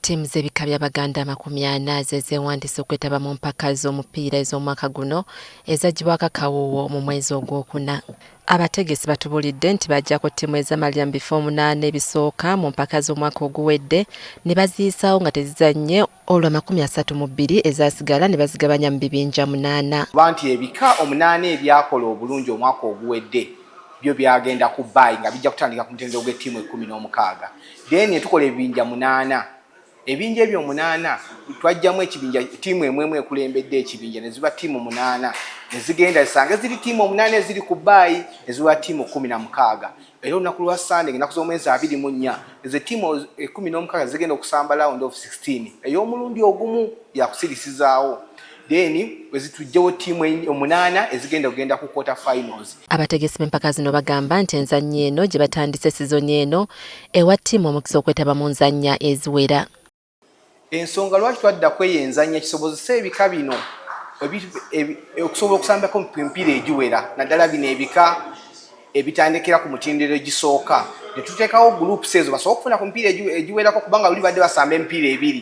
Ttiimu z'ebika bya Baganda amakumi ana ze zeewandiisa okwetaba mu mpaka z'omupiira ez'omwaka guno ezaggyibwako akawuuwo mu mwezi ogwokuna. Abategesi batubuulidde nti baggyako ttiimu ezamalira mu bifo omunaana ebisooka mu mpaka z'omwaka oguwedde ne baziyisaawo nga tezizannye olwo amakumi asatu mu bbiri ezasigala ne bazigabanya mu bibinja munaana. Ba nti ebika omunaana ebyakola obulungi omwaka oguwedde byo byagenda ku baayi nga bijja kutandika ku mutendero gw'ettiimu ekkumi n'omukaaga then netukola ebibinja munaana ebinja ebyo omunaana twajjamu ekibinja tiimu emu emu ekulembedde ekibinja neziba tiimu munaana nezigenda zisange ziri tiimu omunaana eziri ku baayi neziba tiimu kumi na mukaaga era olunaku lwa sande enaku z'omwezi abiri mu nnya ezo tiimu ekumi n'omukaaga zigenda okusamba lawundi of 16 ey'omulundi ogumu yakusirisizaawo then wezitujjewo tiimu omunaana ezigenda kugenda ku quarter finals. Abategesi b'empaka zino bagamba nti enzannya eno gye batandise sizoni eno ewa ttiimu omukisa okwetaba mu nzannya eziwera. Ensonga lwaki twadda kweyo enzannya kisobozese ebika bino okusobola okusambako empiira egiwera naddala bino ebika ebitandikira ku mutindiro egisooka ne tuteekawo groups ezo basobola okufuna ku mipiira egiwerako kubanga luli badde basamba emipiira ebiri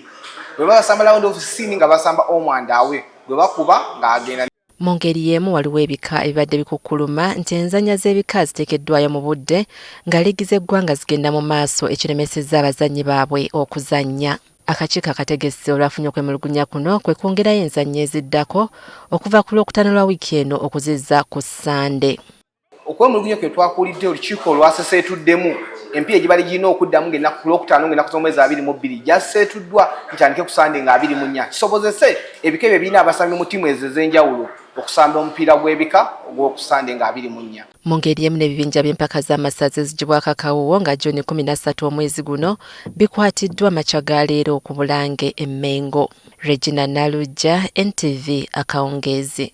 bwe baba basamba lawundi ofisiini nga basamba omwandaawe gwe bakuba ng'agenda mu ngeri y'emu waliwo ebika ebibadde bikukkuluma nti enzannya z'ebika ziteekeddwayo mu budde nga liigi z'eggwanga zigenda mu maaso ekiremesezza abazannyi baabwe okuzannya akakiiko akategesi olwafunye okwemulugunya kuno kwe kwongerayo enzannya eziddako okuva ku lwokutaano lwa wiiki eno okuzizza ku ssande okwemulugunya kwe twakuulidde olukiiko olwaseseetuddemu empiira egibali girina okuddamu ngaennaku ku lwokutaano ngaennaku z'omwezi abiri mu bbiri gyaseetuddwa ntandike ku sande nga abiri mu nnya kisobozese ebika ebyo birina abasambi mu ttiimu ezo ez'enjawulo okusamba omupiira gw'ebika ogw'oku sande nga abiri mu nnya mu ngeri emu n'ebibinja by'empaka z'amasaza ezigibwako akawuwo nga juni kumi na ssatu omwezi guno bikwatiddwa makya ga leero ku bulange e mmengo Regina Naluggya, NTV, Akawungeezi.